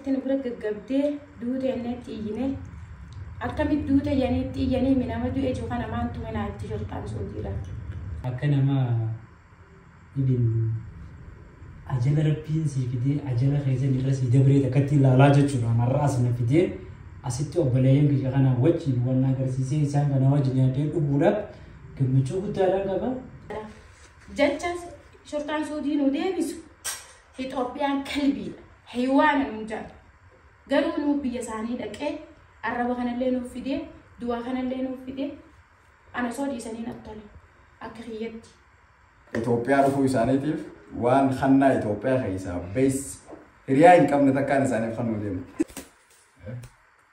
Ati nu bira gaggabdee duute enneetti iyyine akkamitti duute janiitti iyyanii mi nama du'e jiru kana maan tuminaa itti shorxaan suudiidha. Akka nama ibin ajala rabbiin sii fidee ajala keessan irra sii dabree takkatti ilaalaa jechuudha. Marra as na fidee asitti obboleeyyan biyya kana wajjin waan na agarsiisee isaan kana wajjin yaadee dhuguudhaaf gammachuu guddaadhaan qaba. Jecha shorxaan suudii nu deebisu. Itoophiyaan kalbiidha. Haywaan nuun jedhan. Garuu nuuf biyya isaanii dhaqee arraba kanallee nuuf fidee duwaa kanallee nuuf fidee ana osoo dhiisanii natti tole akka kiyyatti. Itoophiyaa dhufuu isaaniitiif waan hannaa Itoophiyaa keessaa bees hiriyaa hin qabne takkaan isaaniif kan nu deemu.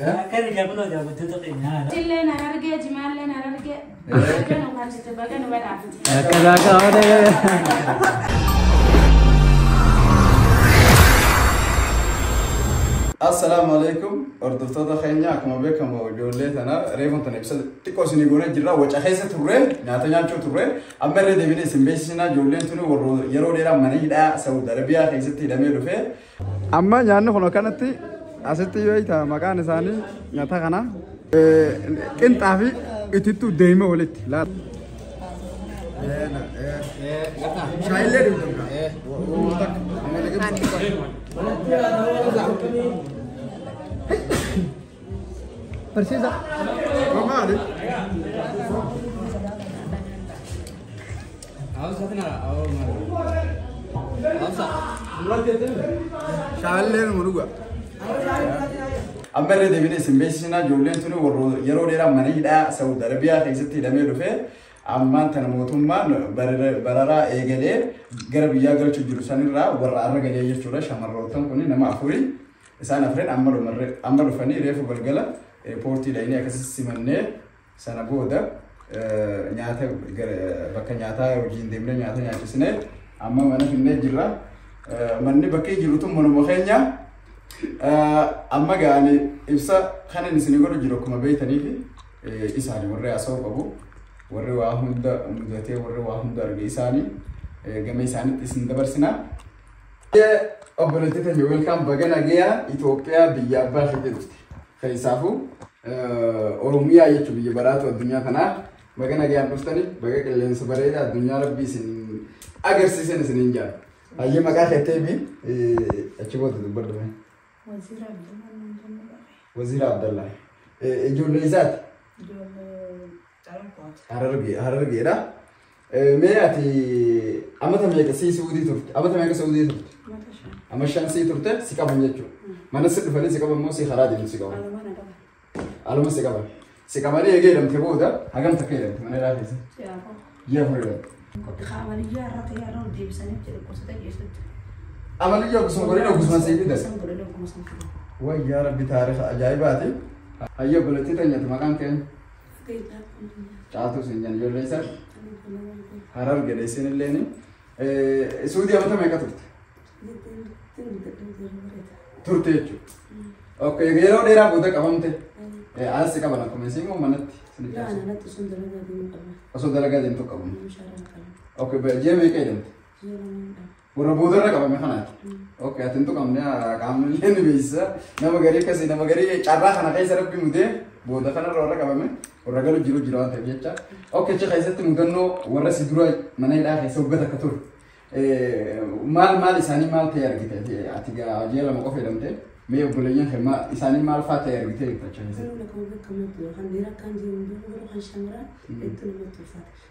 Akkana gaa kunoo daawwattoota keenya haala. Jilleen Harargee, Jimaalleen Harargee. Baga nu galchite, baga nu badhaafte. Akka laagaa olee. Assalaamu alaikum hordoftoota keenya akkuma beekamu ijoollee tana reefuun tana ibsa xiqqoo isinii goonee jirra waca keessa turre nyaata nyaachuu turre amma irra deebinee isin beeksisinaa ijoolleen tuni warra yeroo dheeraa mana hidhaa Saawud Arabiyaa keessatti hidhamee dhufee Amma nyaanni kun akkanatti asitti yoo hiita maqaan isaanii nyaata kana qinxaa fi itittu deeme walitti. Barsiisa. Maali? Shaalleen nu dhuga. Amma irra deebinee isin beeksisnaa ijoolleen tuni warra yeroo dheeraa mana hidhaa Saawud Arabiyaa keessatti hidhamee dhufe ammaan tana mootummaan barara- bararaa eegalee gara biyyaa galchuu jiru sanirraa warra arra galee jechuudha shamarroottan kun nama afurii isaan afreen amma dhumarre- amma dhufanii reefu galgala poortii dhayinii akkasii simannee Sana booda nyaata bakka nyaataa hojiin deemnee nyaata nyaachisnee amma mana finnee jirra. Manni bakkee jiru tun manuma keenya. Amma ga'ani ibsa kanan isin godhu jiru akkuma beektaniifi isaani warri haasa'uu qabu. Warri waa hunda mudatee warri waa hunda arge isaani gama isaanitti isin dabarsina. Obboleettota welkaam baga nagayaan Itoophiyaa biyya abbaa keetii dhufte. Keessaafuu Oromiyaa jechuun biyya baraatu addunyaa kanaa baga nagaan dhuftanii baga qilleensa bareeda addunyaa rabbii isin agarsiisan isin hin jaal. Hayyee maqaa keettee fi achi booda dubbadhu mee. Wazira Abdullah Nandini Bare. Waziira Abdallaa. Ijoollee isaati. Ijoollee Xaragooti. Harargee Harargeedha. Mee ati amata meeqa sii suudii turte? Amata meeqa suudii turte? Mata shan. Amma shan sii turte si qaban jechuudha. Mana si dhufanii si qaban moo si karaa deemu si qaban? Aluma na qaba. Aluma si qaban. Si qabanii eegee hidhamte booda hagam takka hidhamte mana ilaa keessa? Yaa koo. Ji'a afur hidhamte. Qophii kaamaliyyaa irra ta'e irra ol deebisanii itti dhukkubsatee geessutti. Amaliyyaa oggusuma godhee oggusuma sii fidan. Oggusuma godhanii oggusuma sii fidan. Wayyaa rabbi taarifa ajaa'ibaati. Hayya obboleettii teenyatu maqaan keenya. Caatuu siin jedhan ijoollee isaa. Harar gada isin illeen. Suudii amata meeqa turte? Turte jechuudha. Ok yeroo dheeraa booda qabamte. Alas qaban akkuma isin moo manatti? Osoo dalagaa deemtu qabamu. Ok ji'a meeqa jedhamte? Warra boodarra qabame kanaati. Ok, ati hin tuqamne qaamni illee ni beeksisa. Nama garii akkasii nama garii carraa kana keessa rabbi mudee booda kanarra warra qabame warra galu jiru jira waan ta'eef jecha. Ok, achi keessatti mudannoo warra si dura mana hidhaa keessa hoggat akka ture. Maal maal isaanii maal ta'e argite ati ji'a lama qofa jedhamte mee obboleeyyan kee maal isaanii maal fa'aa ta'e argite jechuudha achi keessatti. Yeroo lakkoo bakka muddu kan dhiira kan jiru hunduu yeroo kan shamaraa hedduu namatti ulfaata.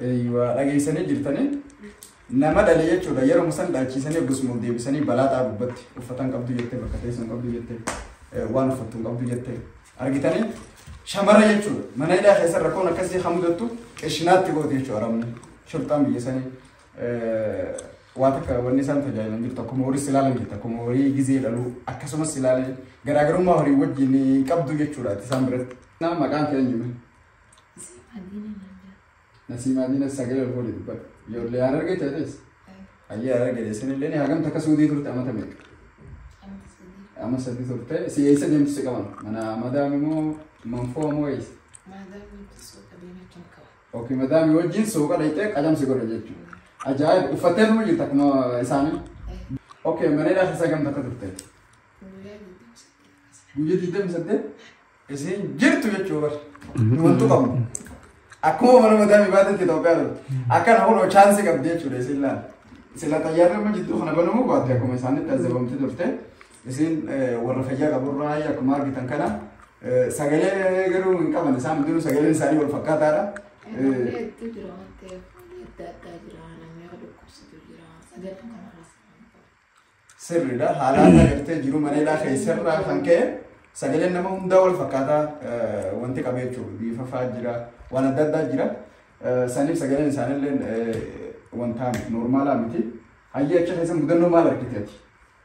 Eeyyuwaa dhageessanii jirtanii nama dhale jechuudha yeroo san dhaalchiisanii akkasuma ol deebisanii balaa xaa gubbatti uffatan qabdu jettee bakka teessan qabdu jettee eh, waan uffattu hin qabdu jettee argitanii shamara jechuudha mana hidhaa keessa rakkoon akkasii kan mudattu qeshinaatti gooti jechuudha arabni shurxaan biyya sanii waa takka wanni isaan tajaajilan jirtu akkuma horii silaalan jirtu akkuma horii gizee dhaluu akkasumas silaalan garaagarummaa horii wajjin hin qabdu jechuudha ati isaan biratti. Naa maqaan kee eenyume? Nasiimaa diina sagalee olkoolii dubbata. Ijoollee yaa argee ta'ees. Ayyee yaa argee deessan illee ni hagam takka suudii turte amata meeqa? Amma sadii turte si eessa deemtu si qaban? Mana madaami moo manfoo moo eessa? Ok madaami wajjin suuqa dhaqxee qajam si godha jechuudha. Ajaa'iba uffattee dhuma jirta akkuma isaanii. Ok mana hidhaa keessa gamta akka turte. Guyyaa digdami saddeet isiin jirtu jechuu bar. Wantu qabnu. Akkuma mana madaami baatetti Itoophiyaa dhufte. Akkana kunoo chaansi qabdi jechuudha isiin laala. Sila xayyaarri amma jidduu kana banamuu baatte akkuma isaanitti azabamti turte. Isin warra fayyaa qaburraa akkuma argitan kana sagalee garuu hin qaban isaan hundinuu sagaleen isaanii wal fakkaataadha. Hedduu jira waan ta'eef adda addaa jira namni akka dhukkubsatu jira sagalee kanarraas kan qabu. Sirriidha haala adda gartee jiru maneedhaa keessarraa kan ka'e sagaleen nama hundaa wal fakkaataa wanti qabu jechuudha bifa fa'aa jira waan adda addaa jira saniif sagaleen isaanillee wanta noormaalaa miti hayyee achi keessa mudannoo maal argiteeti?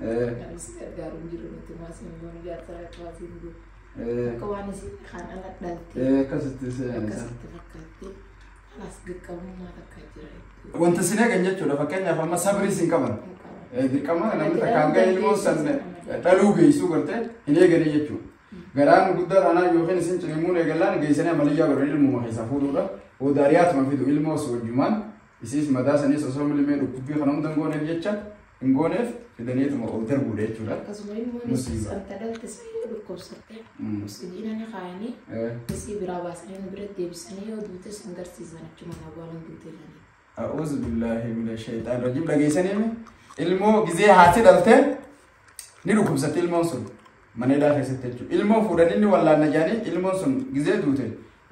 Anis gargaaru hin jiru nuti maasii immoo ni gaafata akka waasii hin jiru. Akka waan isii kaan ala dhaltee Akkasitti akkasitti fakkaattee alaas dirqamummaa takka jira jechuudha. Wanta sin eegan jechuudha fakkeenyaaf amma sabrii sin qaban. Dirqama namni takka hanga ilmoo san dhaluu geessuu gartee hin eegane jechuudha. Garaan guddaa dhaanaa yookiin isin cinimuun eegallaan geessanii amaliyyaa godhan ilmuma keessaa fuudhuudha. Odaariyaatuma fidu ilmoos wajjumaan isiis madaa saniis osoo milimee dhukkubbii kana hundan gooneef jecha hin gooneef fidaneetuma ol darbuudha jechuudha. Akkasuma immoo Musiiba. santa dhalte isii yoo dhukkubsatte Mm. oksijiina ni kaayanii Eh, isii biraa baasanii nu bira deebisanii yoo duute san garsiisan achuma na baalan duute jedhanii. A'uuzu billaahi mina shayxaan rajiim dhageessanii ilmoo gizee haati dhalte ni dhukkubsatte ilmoon sun mana hidhaa keessatti jechuudha. Ilmoo fuudhanii ni wallaanna jedhanii ilmoon sun gizee duute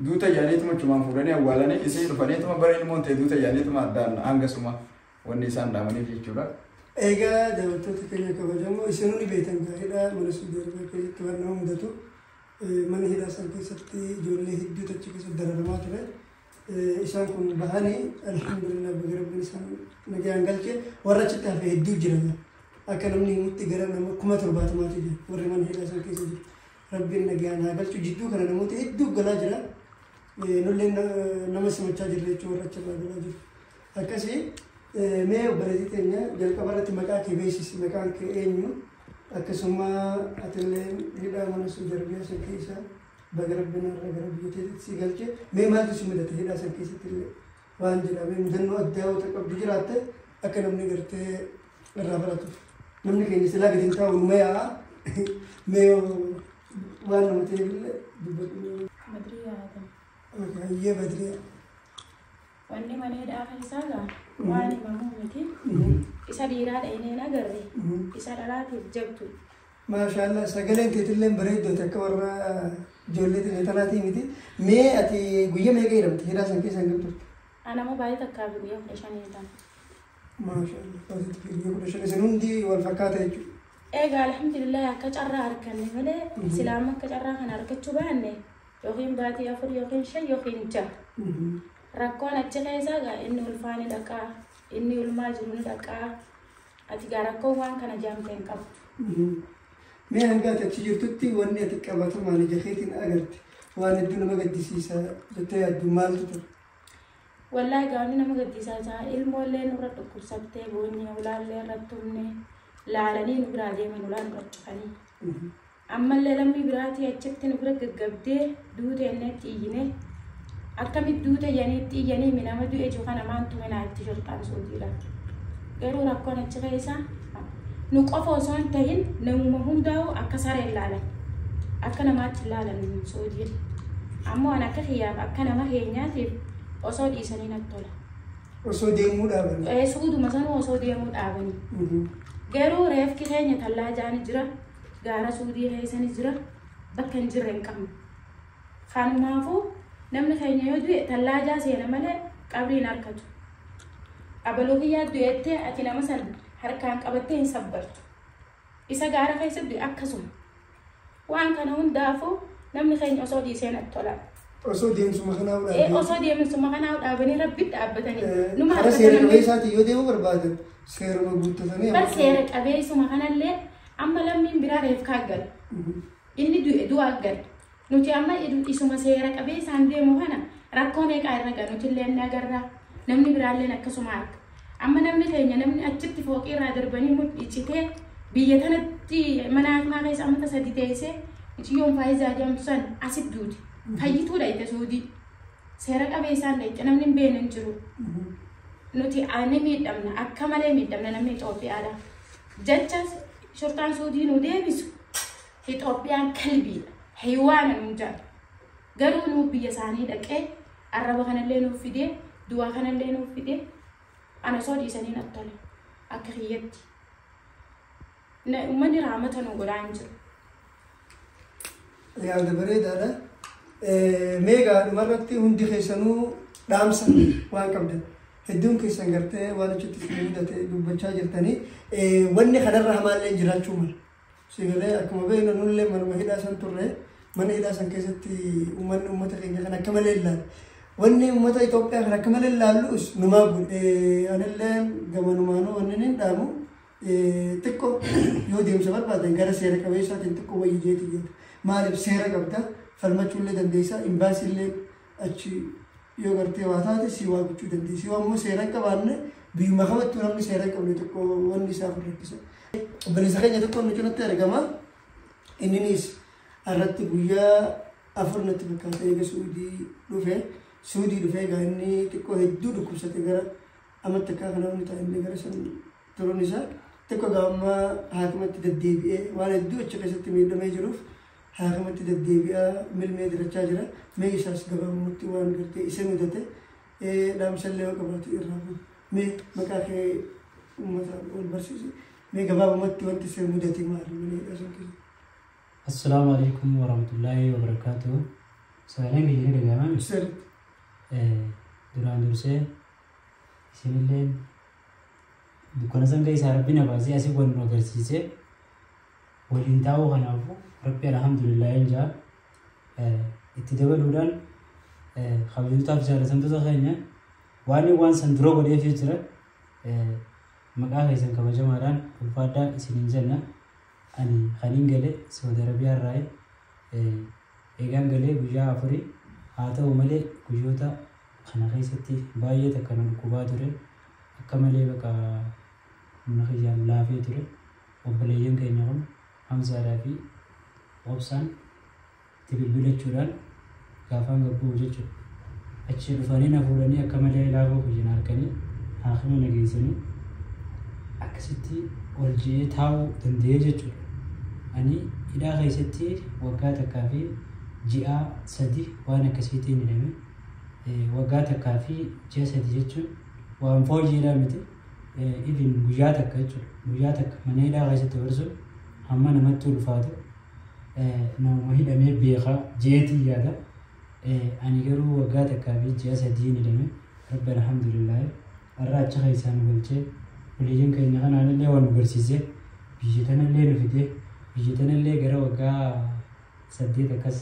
duute jedhaniituma achumaan fuudhanii awwaalanii isii dhufaniituma bara ilmoon ta'e duute jedhaniituma addaan hanga suma Wanni isaan dhaamaniif jechuudha. Egaa daawwattoota keenya kabajamoo isin hundi beektan gaariidha. Mana Suudi Arabiyaa keessatti waan nama mudatu mana hidhaa isaan keessatti ijoollee hedduutu achi keessatti dararamaa ture. Isaan kun bahanii alhamdulillah baga rabbiin isaan nagaan galche warra achitti hafe hedduu jira. Akka namni himutti gara nama kuma torbaatamaati jira warri mana hidhaa isaan keessa jiru. Rabbiin nagaan haa galchu jidduu kana namoota hedduu galaa jira. Nullee nama simachaa jirra jechuun warra achirraa galaa jiru. Akkasi mee obboleetii teenya jalqaba irratti maqaa kee beeksisi maqaan kee eenyu akkasuma atillee hidhaa mana sun jarbiyaa san keessa baga rabbiin irra gara biyya teetitti si galche mee maaltu si mudate hidhaa san keessatti illee waan jedhamee mudannoo addaa wata qabdu jiraatte akka namni gartee irraa baratuuf namni keenya silaa gadi hin taa'u numa yaa'a mee waan nama ta'eef illee dubbadhu. Badriyaa Adam. Hayyee badriyaa. Wanni mana hidhaa keessaa gaa waan himamuu miti. Isa dhiiraa dhaynee hin agarre. Isa dhalaatiif jabdu. Maashaallah sagaleen teetillee bareeddooti akka warra ijoollee tiyya tanaatii miti. Mee ati guyya meeqa hidhamte hidhaa san keessa hin turte? Anama baay'ee takkaa fi guyyaa kudha shanii hidhama. Maashaallah baay'ee guyya kudha shan isin hundi wal fakkaata jechuudha. Egaa alhamdulillah akka carraa arganne malee silaama akka carraa kana argachuu baanne yookiin baatii afur yookiin shan yookiin jaha. Rakkoon achi keessaa gaa inni ulfaa ni dhaqaa, inni ulmaa jiru ni dhaqaa. Ati gaa rakkoon waan kana jaamte hin qabu. Mee hanga ati achi jirtutti wanni ati qabatamaan ija keetiin agarte waan hedduu nama gaddisiisa jettee yaaddu maaltu ture? Wallaahi gaa wanni nama gaddisiisaa jaa ilmoollee nurra dhukkubsattee boonyee ulaallee irratti humne laalanii nu biraa deeman ulaa nurra cufanii. Ammallee lammii biraatii achitti nu bira gaggabdee duute enneetti iyyine. Akkamitti duute janiitti iyyanii mi nama du'e jiru kana maantu minaa itti shorxaan suutii laata. Garuu rakkoon achi keessa nu qofa osoo hin tahin namuma hundaa'u akka sareen laalan. Akka namaatti hin laalan suutiin. Ammoo an akka kiyyaaf akka nama keenyaatiif osoo dhiisanii natti tola. Osoo deemuu dhaaban. Eh, Suuduma sanuu osoo deemuu dhaabanii. Garuu reefki keenya tallaajaan jira. gaara suudii keessani jira bakka hin jirre hin qabnu kanumaafuu namni keenya yoo du'e tallaajaa seena malee qabrii hin harkatu abaluu kiyyaa du'ettee ati nama san harkaan qabattee hin sabbartu isa gaara keessa du'e akkasuma waan kana hundaafuu namni keenya osoo dhiisee natti tola Osoo deemsuma kanaa Eh, fudhaatee. osoo deemsuma kanaa dhaabanii rabbitti dhaabbatanii numa Karaa seera harkatan qabeessaatiin yoo deemuu barbaadan seeruma guuttatanii. bar seera qabeessuma kanallee Amma lammiin biraa reefkaa aggata. Inni du'e du'a aggata. Nuti amma isuma seera qabeessaan deemu kana rakkoo meeqaa irra ga'a? Nutilleen ni agarra, namni biraalleen akkasuma arga. Amma namni keenya namni achitti fooqii irraa darbanii mudhii citee biyya tanatti mana hakimaa keessa amata sadi teessee mucayyoon Faayizaa jedhamtu san asitti duute. Fayyituu dhayxe Suudii. Seera qabeessaan dhayxe namni hin beekne hin jiru. Nuti ni miidhamna akka malee miidhamna namni Itoophiyaadha. Jecha shurxaan suudii nu deebisu Itoophiyaan kalbiidha. Haywaana nuun jaal. Garuu nuu biyya isaanii dhaqee arraba kanallee nuuf fidee duwaa kanallee nuuf fidee ana osoo dhiisanii natti tole akka kiyyatti. Na- Uummanni raamata nu godhaa hin jiru. yaada bareedaadha. Mee egaa dhumarratti hundi keessanuu dhaamsa waan qabdan hedduun keessan gartee waan achitti isin mudate dubbachaa jirtanii wanni kanarra hamaallee jiraachuu mala. Sigalee akkuma beeknu nullee manuma hidhaa san turre mana hidhaa san keessatti uummanni uummata keenya kan akka malee ilaalu. Wanni uummata Itoophiyaa kan akka malee ilaalus numaa godhe. Anillee gamanumaanuu wanni hin dhaamu. Xiqqo yoo deemsa barbaadan gara seera qabeessaatiin xiqqo wayyi jeeti yaada. Maaliif seera qabda falmachuu illee dandeessaa imbaasii illee achi yoo gartee waa taate si waa gochuu dandeessi. Yoo ammoo seera hin qabaanne biyyuma kamattuu namni seera hin qabne tokko wanni isaaf hin rakkisa. Obboleessa keenya tokko nu cinatti argama. Inninis irratti guyyaa afur natti fakkaata eega Suudii dhufe. Suudii dhufe egaa inni xiqqoo hedduu dhukkubsate gara Amma takkaa kana wani ta'a inni gara san turuun isaa tokko egaa amma haakimatti deddeebi'ee waan hedduu achi keessatti miidhamee jiruuf haakimatti deddeebi'aa milmee dirachaa jira. Mee isaas gabaabumatti waan gartee isa mudate dhaamsallee yoo qabaate irraa bu'u. Mee maqaa kee uummata wal barsiisi. Mee gabaabumatti wanti isa mudate maali malee dhaasuun keessa. Assalaamu alaikum warahmatullaahi wabarakaatuh. Sagaleen keenya ni dhaga'ama. Sirri. Duraan dursee Isinillee dukkana san keessaa rabbi na baasee asii wal nu agarsiisee waliin taa'uu kanaafuu rabbi alhamdulillah hin jaa itti dabaluudhaan kabajootaaf jaalatamtoota keenya waan waan san dura godheefii jira maqaa keessan kabajamaadhaan ulfaadhaa isiniin jenna ani kaniin gale saudi arabiyaa irraa eegaan galee guyyaa afurii haa ta'u malee guyyoota Kana keessatti baay'ee takka na dhukkubaa ture. Akka malee baqa humna kiyyaan laafee ture. Obboleeyyan keenya kun Hamzaadhaa fi Obsaan itti bilbilachuudhaan gaafaan gad bu'u jechuudha. Achii dhufanii na fuudhanii akka malee laafuu kiyya na arganii haakima na geessanii akkasitti ol ji'ee taa'uu danda'ee jechuudha. Ani hidhaa keessatti waggaa takkaa fi ji'aa sadi waan akkasiitiin hidhame. Waggaa takkaa fi ji'a sadi jechuun waan fooyyeedhaa miti. Even guyyaa takka jechuudha. Guyyaa takka mana hidhaa keessatti dabarsuun hamma namatti ulfaatu namuma hidhamee beekaa jeetii yaada. Ani garuu waggaa takkaa fi ji'a sadiin hidhame rabbi alhamdulillaahi har'a achi keessaa nu galchee obboleeyyan keenya kanaan illee waan nu garsiisee biyya tanallee nu fidee biyya tanallee gara waggaa 8 akkas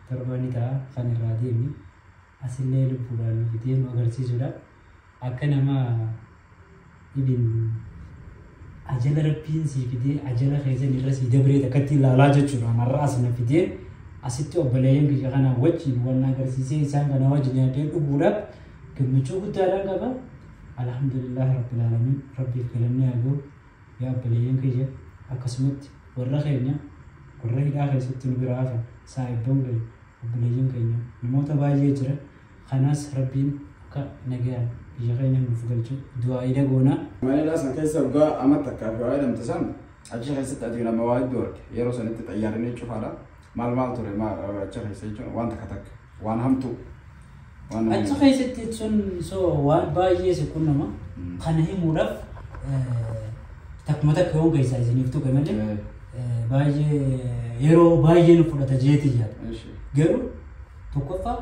torbaan ni ta'a kan irraa deeme asillee lubbuudhaan nuti deenu agarsiisuudha akka nama ibin ajala rabbiin sii fidee ajala keessan irra sii dabree takkatti ilaalaa jechuudha marraa asina fidee asitti obboleeyyan kiyya kanaa wajjin waan agarsiisee isaan kana wajjin nyaatee dhuguudha gammachuu guddaadhaan qaba alhamdulillah rabbil alamin rabbiif galanni haa ga'u Yaa obboleeyyan kiyya! Akkasumatti warra keenya warra hidhaa keessatti nu biraa hafan, saa'ibban keenya, obboleeyyan keenya, namoota baay'ee jira, kanaas Rabbiin akka nagayaan biyya keenya nuuf galchu du'aa'iidha goonaa. Mana hidhaa san keessa waggaa ama takkaaf yoo hidhamte san, achi keessatti ati nama waa hedduu argite. Yeroo sanitti xayyaarri ni cufaadha. Maal maal ture maal achi keessa jechuun waan takka takka waan hamtuu waan nama Achi keessatti jechuun so waan baay'ee si qunnama. Mm. Kana himuudhaaf eh, takkuma takka yoon keessaa isiniif tuqe malee Eh. eh, baay'ee yeroo baay'ee nu fudhata jeetii yaada. Eeshi. Garuu tokkoffaa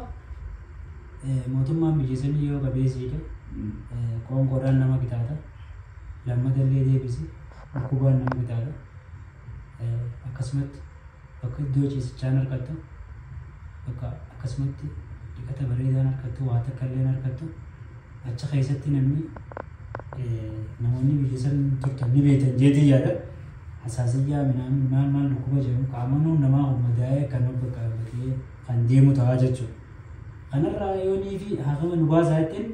eh, mootummaan biyya sanii yoo qabeessiidha Mm. eh, qoonqoodhaan nama gitaata lammata illee deebisi dhukkubaan nama gitaata akkasumatti bakka iddoo ciisichaan harkattu bakka akkasumatti dhiqata bareedaan harkattu waa takka illee harkattu achi keessatti namni namoonni biyya san turtan ni beektan jeetii yaada hasaasiyyaa minaamin maal maal dhukkuba jedhamu qaamonni namaa ummadaa'ee kan bakka bakee kan deemu ta'aa jechuudha. Kanarraa yoonii fi haakama nu baasaa ittiin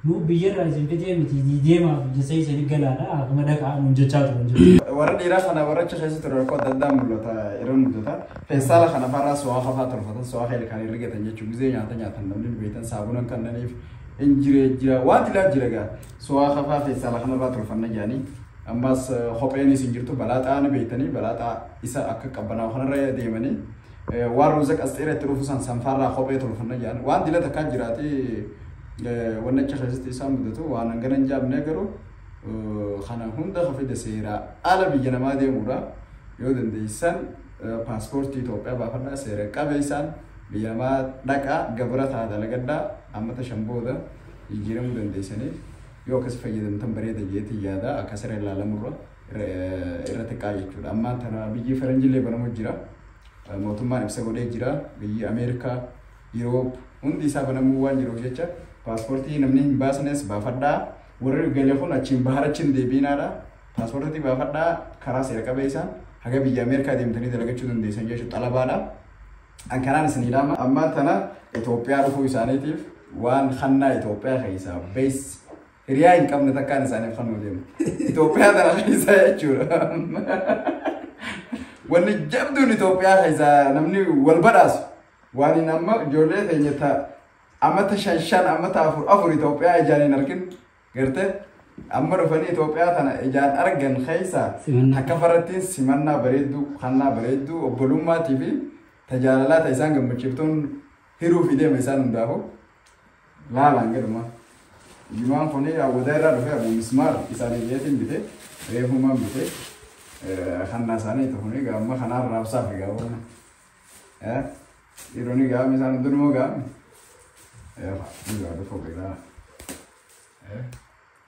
Nuu biyya irraa isin fixee miti deemaa fi jessee isin galaadha haafuma dhaqaa nuun jechaa turan jechuudha. Warra dhiiraa kana warra achi keessa ture rakkoo adda addaa mul'ata irra mudata. Feestaala kana farraa so'aa kafaa tolfatan so'aa kee ilkaan rigatan jechuun gizee nyaata nyaatan namni hin beektan saabuna hin kannaniif hin jire jira waan tilaa jira gaa so'aa kafaa feestaala kanarraa tolfanna jedhanii ammas kopheenis hin jirtu balaaxaa ni beektanii balaaxaa isa akka qabbanaa'u kanarra deemanii Waan ruuzaq asxeera itti dhufu san sanfaarraa kophee tolfanna jedhan. Waan dila takkaa jiraate wanni achi keessatti isaan mudatu waan hangana hin jaamne garuu kana hunda ka fide seeraa ala biyya namaa deemuudha. Yoo dandeessan paaspoortii Itoophiyaa baafadhaa seera qabeessaan biyya namaa dhaqaa gabra ta'a dalagadhaa ammata shan booda jijjiiramuu dandeessanii yoo akkas fayyadamtan bareeda jeetii yaada akka siree ilaalamurra. irra xiqqaa jechuudha. Amma tana biyyi faranjillee banamu jira. Mootummaan ibsa godhee jira. Biyyi Ameerikaa, Yuroop hundi isaa banamuu waan jiruuf jecha paaspoortii namni hin baasnes baafadhaa. Warri gale kun achiin bahar achiin deebiinaadha. Paaspoortii baafadhaa karaa seera qabeessaan haga biyya Ameerikaa deemtanii dalagachuu dandeessan jechuudha xalabaadha. An kanaan isinii dhaama. Amma tana Itoophiyaa dhufuu isaaniitiif waan hannaa Itoophiyaa keessaa bees Hiriyaa hin qabne takkaan isaaniif kan nu deemu. Itoophiyaa tana keessaa jechuudha. Wanni jabduun Itoophiyaa keessaa namni wal badhaasu. Waan hin amma ijoollee keenya ta ammata shan shan ammata afur afur Itoophiyaa ijaan hin argin garte amma dhufanii Itoophiyaa tana ijaan argan keessaa Simannaa. akka farattiin simannaa bareedduu kannaa bareedduu obbolummaatii fi tajaalalaa ta'e isaan gammachiiftuun Hiruu fi deema isaan hundaafuu laalaan gadhuma. Jimaan kun awwadaa irraa dhufee abuu mismaar isaanii jeetiin bite reefumaan bite kannaa isaanii itti kun egaa amma kanaan raabsaa fi gaa wanna. Dhiironni gaa isaan hundumaa gaa. Eefa, ni gaa dhufu egaa.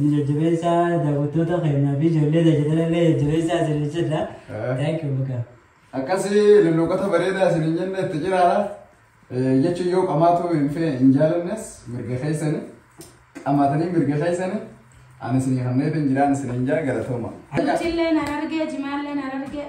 Inni jajjabeessa daawwattoota keenyaa fi ijoollee tajaajila illee jajjabeessa isiniin jenna. Thank you baga. Akkasi lulluuqota bareedaa isiniin jenne itti jiraadha. Jechuun yoo qamaatu hin fee hin jaalannes mirga keessani. Qamaatanii mirga keessani. Ani isinii kanneen hin jiraan isiniin jaa galatooma. Nutillee nan argee jimaallee nan argee.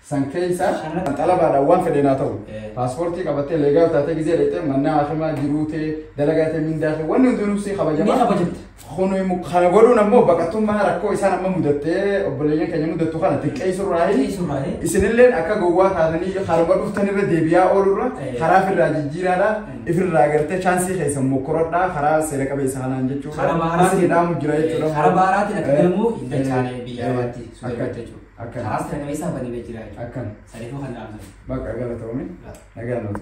san keessa kan xalabaadhaan waan fedheen haa ta'u paaspoortii qabattee leegaa taatee gizee dheexee mannaa hakimaa jiruutee dalagaa ta'e mindaa ta'e wanni hundinuu si kabajamaa. Ni kabajamta. Kun immoo kana godhuun ammoo baqattummaa rakkoo isaan amma mudattee obboleeyyan keenya mudattu kana xiqqeessurraa hin Xiqqeessurraahi. isinilleen akka gowwaa taatanii harma dhuftanirra deebi'aa oolurra Eh. karaa ofirraa jijjiiraadha ifirraa gartee chaansii keessan mokkoradhaa karaa seera qabeessa kanaan jechuudha Karaa baaraatiin- isin hidhaamu jira jechuudha Karaa baaraatiin akka Eh. galmuu hin Eh. dachaane biyya Eh. alaatti sun Akka- irratti jechuudha. Akkana. Karaas raga isaa baname jira jechuudha. Akkana. Saniifuu kan dhaamsan. Bakka galatoomi. Nagaan nuuf.